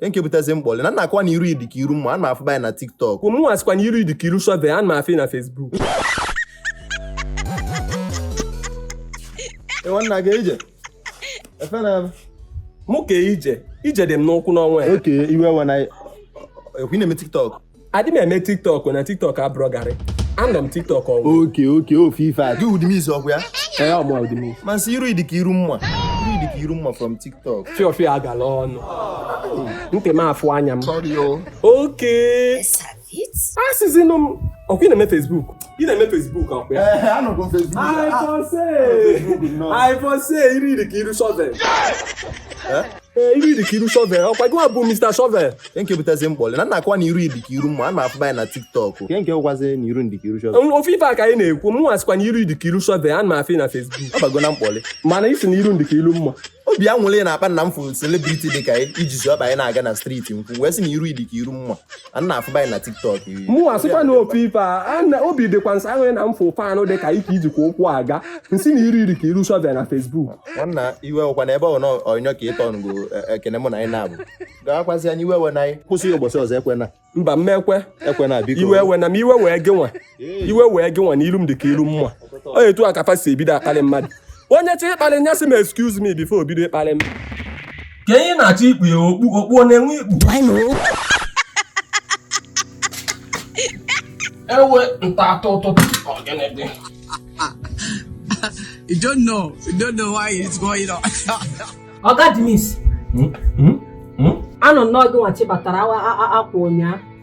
nke butezi mkpalị na nakwa na iru ị dị ka iru mma ana m afụba ị na tiktok mụ asịkwa na iru ị dị ka iru shọvel ana m afụ ị na facebook nwanna ga ije efe na mụ ka ije ije dị m n'ụkwụ n'ọnwa ya okay iwe ewena ekwu ị na-eme tiktok adị m eme tiktok na tiktok abụrọ garị anọ m tiktok ọnwụ okay okay ofu ife a gị demiz ọkwa ya ee ọ mụ demiz m asị iru ị dị ka iru mma iru ị dị ka iru mma from tiktok fiọfiọ agala ọnụ ntị m afụ anya m okay asịzinụ m ọkwa ị na-eme facebook ị na-eme facebook ọkwa ya ee anọgo m facebook I for say, I for say, iru ị dị ka iru shovel. ee iru ị dị ka iru shọvel ọkwa gị bụ Mr. shọvel nke nke butazi mkpalị na nna akwa na iru ị dị ka iru mma a na-afụ anyị na tiktok nke nke ụkwazi na iru m dị ka iru shọvel ofu ife a ka anyị na-ekwu mụ asịkwa na iru ị dị ka iru shọvel ana m afụ ị na Facebook ọ bago na mkpalị mana ị sị na iru m dị ka iru mma obi anwụlị na-akpa na m fụrụ celebrity dị ka iji ji ọkpa anyị na-aga na street nkwụ wee sị na iru ị dị ka iru mma a na-afụba anyị na tiktok mụ asịkwa na ofu ife a obi dịkwa m ụsọ na m fụ fan dị ka ike ijikwa ụkwụ aga m sị na iru ị dị ka iru shọvel na facebook nwanna iwe ọkwa na ebe ọ na ọnyọ ka ịtọ ngo e, ekene mụ na anyị na-abụ gawakwazi anyị iwe ewena anyị kwụsị ụbọchị ọzọ ekwena mba mmekwe ekwena biko iwe ewena m iwe wee gị nwa iwe wee gị nwa na ilu m dị ka ilu mma onye etu a ka fa si ebido akpalị mmadụ onye chọ ịkpalị nya sị m excuse me before o bido ịkpalị m ka ihe na-achọ ikpu ya okpu okpu ọ na-enwe ikpu ewe nta atọ ụtụtụ ọgịnị dị You don't know. You don't know what's going on. oga demiz anụ nnọọ gị nwachi batara awa a- a- akwa ụnyaa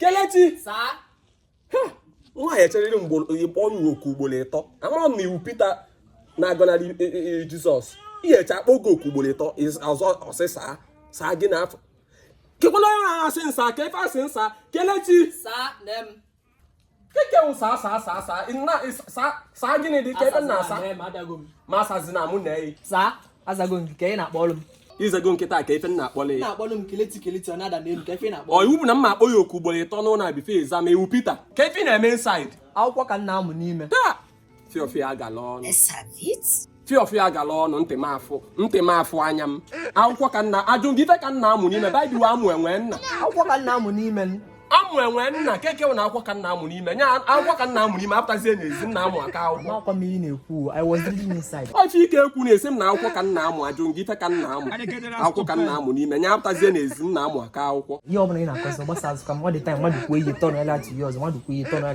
kelechi nwaanyị echeriri mgbe ị kpọ ya oku ugboro ịtọ amara m na ị wụ Pita na-agọnarị e, e, e, Jizọs ihe eche akpọ gị oku ugboro ịtọ ọzọ ọsịsa saa gị n'afọ kekwala onye ahụ asị nsa ka ife asị nsa kelechi kee nke wụ saa saa saa saa nna saa saa gịnị dị ka ebe nna asa ma asazi na mụ na eyi saa azago nke ka ị na-akpọrọ m ị zago nkịta ka ife nna akpọla ya na-akpọrọ m kelechi kelechi ọ na-ada n'elu ka ife na-akpọ ọ iwu bụ na mma akpọ ya oku ugboro ịtọ n'ụlọ a before ị za ma ị wụ pita kee ife ị na-eme inside akwụkwọ ka m na-amụ n'ime taa fiọfiọ agala ọnụ fiọfiọ agala ọnụ ntị m afụ ntị m afụ anya m akwụkwọ ka nna ajụ gị ife ka m na-amụ n'ime baịbụl amụ enwe nna akwụkwọ ka m na-amụ n'ime amụ enwe nna keke na akwụkwọ ka m na-amụ n'ime nya akwụkwọ ka m na-amụ n'ime apụtazie n'ezi na-amụ aka akwụkwọ ife ike ekwu na-asị m na akwụkwọ ka m na-amụ ajụ gị ife ka nna amụ akwụkwọ ka m na-amụ n'ime nya apụtazie n'ezi na-amụ aka akwụkwọ ihe ọ bụla ị na-akọzi gbasa azụ ka mmadụ taa mmadụ kwuo ihe tọnụ ya latu ya ọzọ mmadụ kwuo ihe tọnụ ya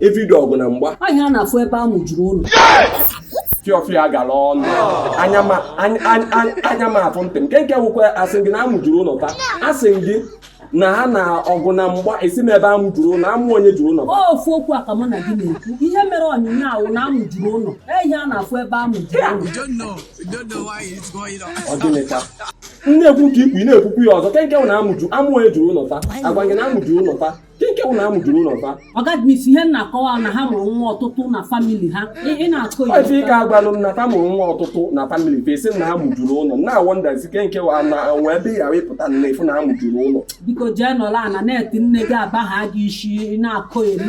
everyday ọgụ na mgba anyị a na-afụ ebe amụ juru ụlọ fiọfịa gara ọnụ anya m afụ ntị m nke nke nwekwa asị gị na amụ juru ụlọ taa asị gị na ha na ọgụ na mgba esi m ebe amụ juru ụlọ amụ onye juru ụlọ ofu okwu a ka mụ na gị na-ekwu ihe mere onyinye ahụ na amụ juru ụlọ ihe a na-afụ ebe amụ juru ụlọ ọ gịnịcha ị na-ekwu nke ikwu ị na-ekwukwu ya ọzọ ke nke na amụju amụ onye juru ụlọ taa agwa gị na amụ juru ụlọ taa nke ụlọ amụ juru ụlọ fa ọga Demizz ihe m na-akọwa na ha mụrụ nwa ọtụtụ na famili ha ị na-akọ ya ọ ife ị ka agwalụ m na fa mụrụ nwa ọtụtụ na famili fa ị sị na ha mụjuru ụlọ na awọndazi ke nke wa na nwa ebe ya ị pụta na-afụ na ha mụjuru ụlọ biko jee nọlụ ana na-eti nne gị aba ha gị isi na-akọ eri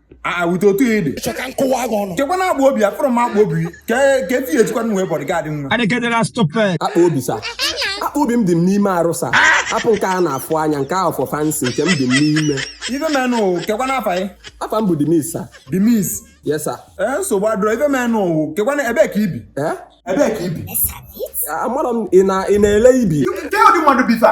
awụta otu ya ede chọ ka m kụwa gị ọnụ kekwanụ akpa obi afụrọ m akpa obi ka ka efi ya echekwa nwe bodyguard nwa Adekadela stupid. akpa obi sa akpa obi m dị m n'ime arụ sa apụ nke a na-afụ anya nke ahụ for fancy nke m dị m n'ime ife menụ kekwanụ afa ya afa m bụ Demizz sa Demizz yes sa ee nsogbu adịrọ ife menụ kekwanụ ebee ka ibi ee ebee ka ibi amarọ m ị na- ị na-ele ibi ke ụdị mmadụ bụ ifa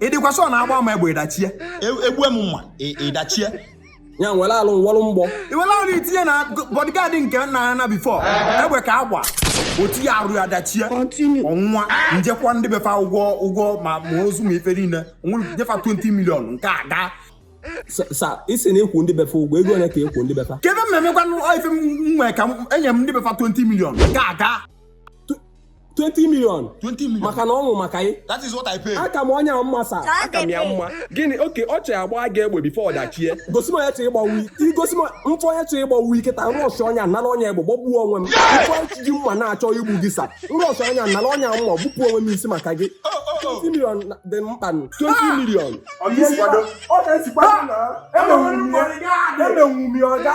ị dịkwa sure na agba m egbe ị dachie egbue m mma ị dachie ya were arụ nwọrụ mgbọ i were arụ ị tinye na bodyguard nke nna ya na before egbe ka agba otu ya arụ ya dachie ọ nwụọ m jee kwụọ ndị befa ụgwọ ụgwọ ma ma ozu ma ife niile nyefa 20 million nke a gaa sa ị sị na ị kwụ ndị befa ụgwọ ego ole ka ị kwụ ndị befa kebe mmemme gwanụ ife m nwee ka enye m ndị befa 20 million nke a gaa 20 million 20 million. maka na ọ nwụ maka gị That is what I pay. aka m onye a mma sa aka m ya mma gịnị okay ọ chọrọ agba gị egbe before ọ dachie gosi m onye chọrọ ịgbagbu ị gosi m m fụ onye chọrọ ịgbagbu ị kịta m rush onye a nara onye a egbe gbagbuo onwe m m fụ onye chi ji mma na-achọ igbu gị sa m rush onye a nara onye a mma gbupụ onwe m isi maka gị 20 million na- dị mkpa nụ. 20 million ọ ga-esikwa ọ ga-esikwa na emenwu m ya emenwu m ya ọga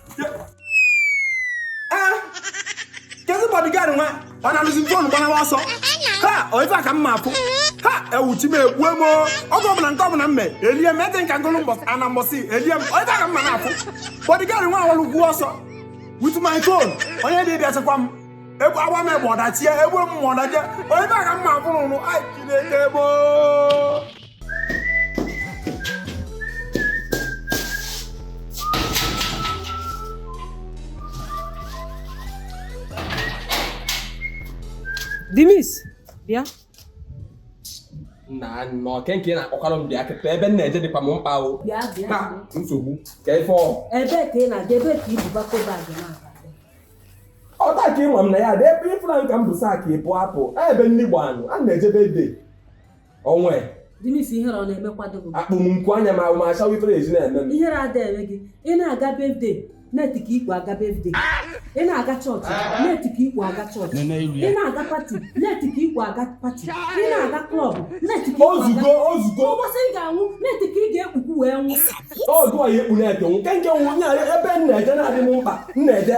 kedu bodyguard nwa ọ nalụzi fon gbanawa ọsọ ha ọ ife a ka m ma afụ ha ewu chi m egbue m oge ọbụla nke ọbụla mme elie m ete nka ngụlụ mbọsị ana mbọsị elie m ọ ife a ka m ma na-afụ bodyguard nwa awalụgo ọsọ with my phone onye dị bịa chekwa m egbu agba m egbe ọ dachie egbu m mma ọ dachie ọ ife a ka m ma afụ n'ọlụ ai chineke gboo Dimis, bịa. na nnọọ nke nke na-akpọkwara m bịa kịta ebe m na-eje dịkwa m mkpa o ka nsogbu ka ife ọ ebe ka ị na-aga ebe ka ibu bako bag na ọ taa ka ịma m na ya dị ebe ịfụra nka m bu sak ịpụ apụ ebe nni gbanụ a na-ejebe eje onwe Dimis ihere ọ na-emekwado gị akpụ m nkwu anya ma ma achawa ifere ezi na-eme m ihere ada eme gị ị na-aga birthday net ka ikpu aga birthday ị na-aga chọọchị net ka ikpu aga chọọchị Nene iru ya. ị na-aga pati net ka ikpu aga pati ị na-aga klọb net ka ikpu aga ozugo ozugo ụbọchị ị ga-anwụ net ka ị ga-ekpukwu wee nwụ ọdụ a ya ekpu net nwụ nke nke nwụ nya ebe m na-eje na-adị m mkpa m na-eje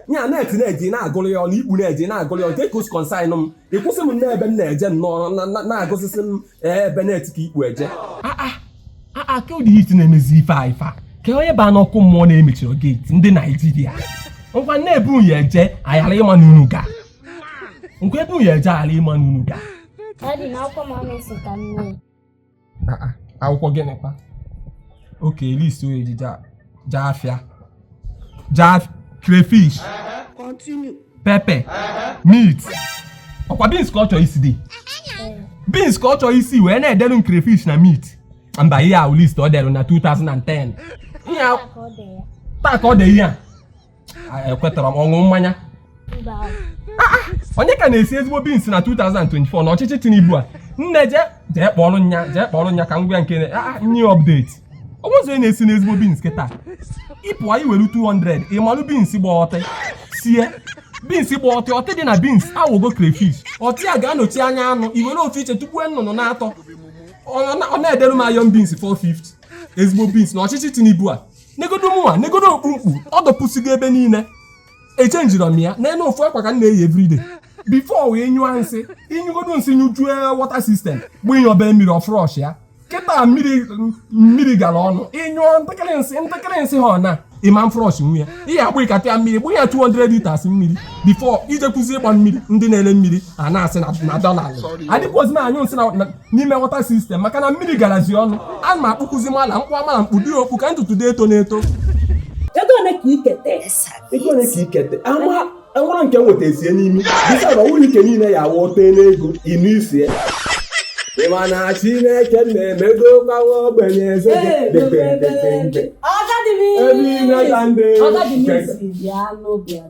ya net na-eji na-agụrụ ya ọnụ ikpu na-eji na-agụrụ ya ọnụ ka o si concern m ịkwụsị m n'ebe m na-eje nnọọ na- na- na-agụsịsị m ee, ebe net ka ikpu eje aa ka ụdị heat na-emezi ife a ife a ka onye baa n'ọkụ mmụọ na emechirọ geeti ndị Naịjirịa ngwa nne ebe unu eje ayara ịma na unu ga ngwa ebe unu eje ayara ịma na unu ga Daddy, na akwụkwọ m amesi ka nne. akwụkwọ gịnịkwa oke list onye ji jaa afịa jaa crayfish pepe meat ọkwa beans ka ọ chọrọ isi dị beans ka ọ chọrọ isi wee na-edelu m crayfish na meat mba ihe ahụ list ọ delu na 2010 ihe taa ka ọ dị ihe a ekwetara m ọ ṅụ mmanya onye ka na-esi ezigbo beans na 2024 na ọchịchị Tinubu a nne je jee kpọrọ nya jee kpọrọ nya ka m gwa nke new update onwezi onye na-esi n'ezigbo beans kịta ịpụọ i were 200 ịmalụ beans gba ọtị sie beans gba ọtị ọtị dị na beans awụgo crayfish ọtị a ga-anọchi anya anụ i were ofu iche tụgbuo nnụnụ n'atọ ọ na-edere m iron beans 450 ezigbo beans na ọchịchị Tinubu a negodo mụnwa negodo okpu m kpu ọ dọpụsigo ebe niile echenjirọ m ya n'elu ofu akwa ka m na-eyi everyday before wee nyụọ nsị ịnyụgodo nsị nyụjue water system bụ inye obere mmiri ọ flush ya kịta mmiri mmiri gara ọnụ ịnyụọ ntakịrị nsị ntakịrị nsị ha ọ na ịma flush nwu ya ihe agba ịkata ya mmiri bụ ya 200 liters mmiri before ijekwuzi ịgba mmiri ndị na-ele mmiri a na-asị na dollar adịkwazi m anyụ nsị na n'ime water system maka na mmiri garazi ọnụ a ma akpụkụzi mana m kpu a mana m kpudi okpu ka ntutu dị eto n'eto ego ole ka ikete ego ole ka ikete ama enwere nke nweta esie n'imi dịka na ọwụrụ ike niile ya awụ ote n'ego inu isie ịma na Chineke na-emedokwa ogbenye eze ebe ime ka ndị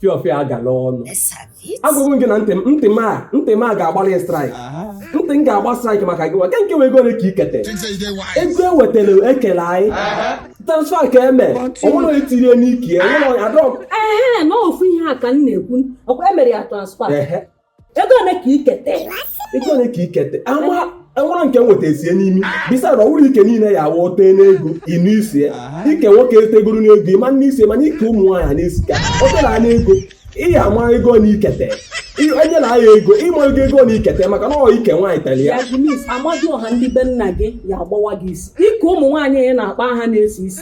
fiọfịa agala ọnụ agwụgwụ gị na ntị m ntị m a ntị m a ga-agbalị strike ntị m ga-agba strike maka gị nwa nke nke ego ole ka i kete ego e wetara ekele anyị transfer ka eme onwere onye tirie n'ike onwere onye adọg ehe na ofu ihe a ka m na-ekwu ọkwa e mere ya transfer ego ole ka i kete ego ole ka i kete e nwere nke nweta esie n'imi bisa na ọwụrụ ike niile ya awụ tee n'ego ịnụ isi ya ike nwoke e tegoro n'ego ị ma-anụ isi mana ike ụmụ nwaanyị na-esi ka o tere n'ego ị ya ama ego na ikete onye na aya ego ịma ego ego na ikete maka na ọ ike nwaanyị tere ya Amadiọha ndị be nna gị ya agbawa gị isi ike ụmụ nwaanyị na-akpa aha na-esi isi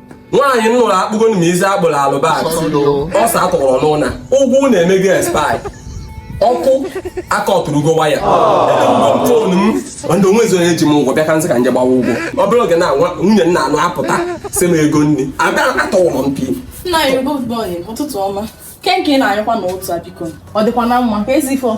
nwaanyị m nụrụ akpụgo m isi agbụrụ alụbat ọsa atụrụ n'ụna ụgwọ ụna emego expire ọkụ aka ọtụrụgo waya phone m ndị onwe ezi onye ji m ụgwọ bịa ka m sị ka m je gbawa ụgwọ ọ bụrụ oge na nwunye m na-anụ apụta sị m ego nri abịa atọwụrụ m pi nna anyị ụtụtụ ọma kenke na-anyụkwa na otu a biko ọ dịkwa na mma ka ezi ifo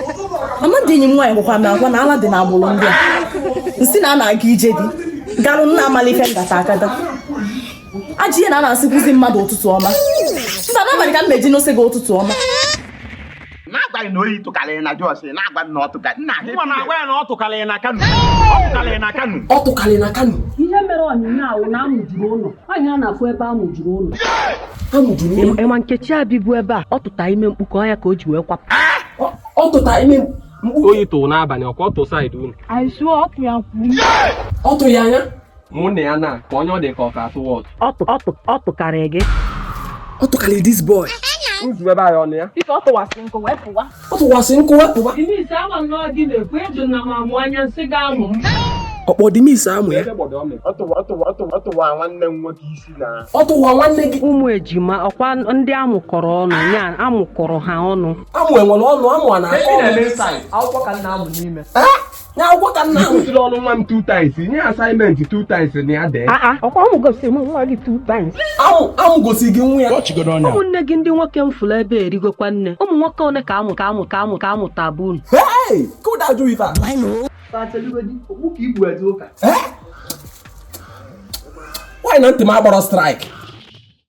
mama dị enyi m nwaanyị gwakwa m agwa na ala dị n'agbụrụ ndị a m sị na a na-aga ije di garụ nna amala ife ngata akada ajị ihe na a na-asịkwuzi mmadụ ụtụtụ ọma mba n'abalị ka m ma-eji na-asị gị ụtụtụ ọma na-agwa gị na oyi tụkarịrị na Jos na-agwa na ọ tụkarị nna ha Nwa na-agwa ya na ọ tụkarịrị na Kano ọ tụkarịrị na Kano ọ tụkarịrị na Kano ihe mere onyinye ahụ na amụjuru ụlọ Anyị a na-afụ ebe a mụjuru ụlọ. A mụjuru ụlọ. Ị ma Nkechi a bibu ebe a, ọ tụta ime mkpuke ya ka o ji wee kwapụ. Ọ tụta ime mkpuke. Oyi tụrụ n'abalị ọkwa ọ tụ side unu. Anyị sụọ ọtụ ya kwuru. Ọ tụ ya anya. Mụ na ya na ka onye ọ dị ka ọ ka atụ what. Ọ tụkarị gị. Ọ tụkarị this boy. Nzu ebe anyị ọnụ ya. Ife ọ tụwasị nkụ wee pụwa. ọ tụkwasị nkụ wepụba ọkpọ dimis amụ ya ọ tụwa nwanne gị ụmụ ejima ọkwa ndị a mụkọrọ ọnụ ya a mụkọrọ ha ọnụ amụ enwere ọnụ amụ a na-akọ ọnụ akwụkwọ ka m na-amụ n'ime na akwụkwọ ka m na-amụ Ị kụziri ọrụ nwa m two times, nye assignment two times na ya dee. aa ọkwa ụmụ gosiri m nwa gị two times amụ amụ gosiri gị nwa ya Kpọchigodo ọnụ a. ụmụnne gị ndị nwoke m fụrụ ebe erigokwa nne ụmụ nwoke one ka amụ ka amụ ka amụ ka a mụtabu unu Hey! Ka ụda jụrụ ife a. Eh? Why na ntị m agbarọ strike?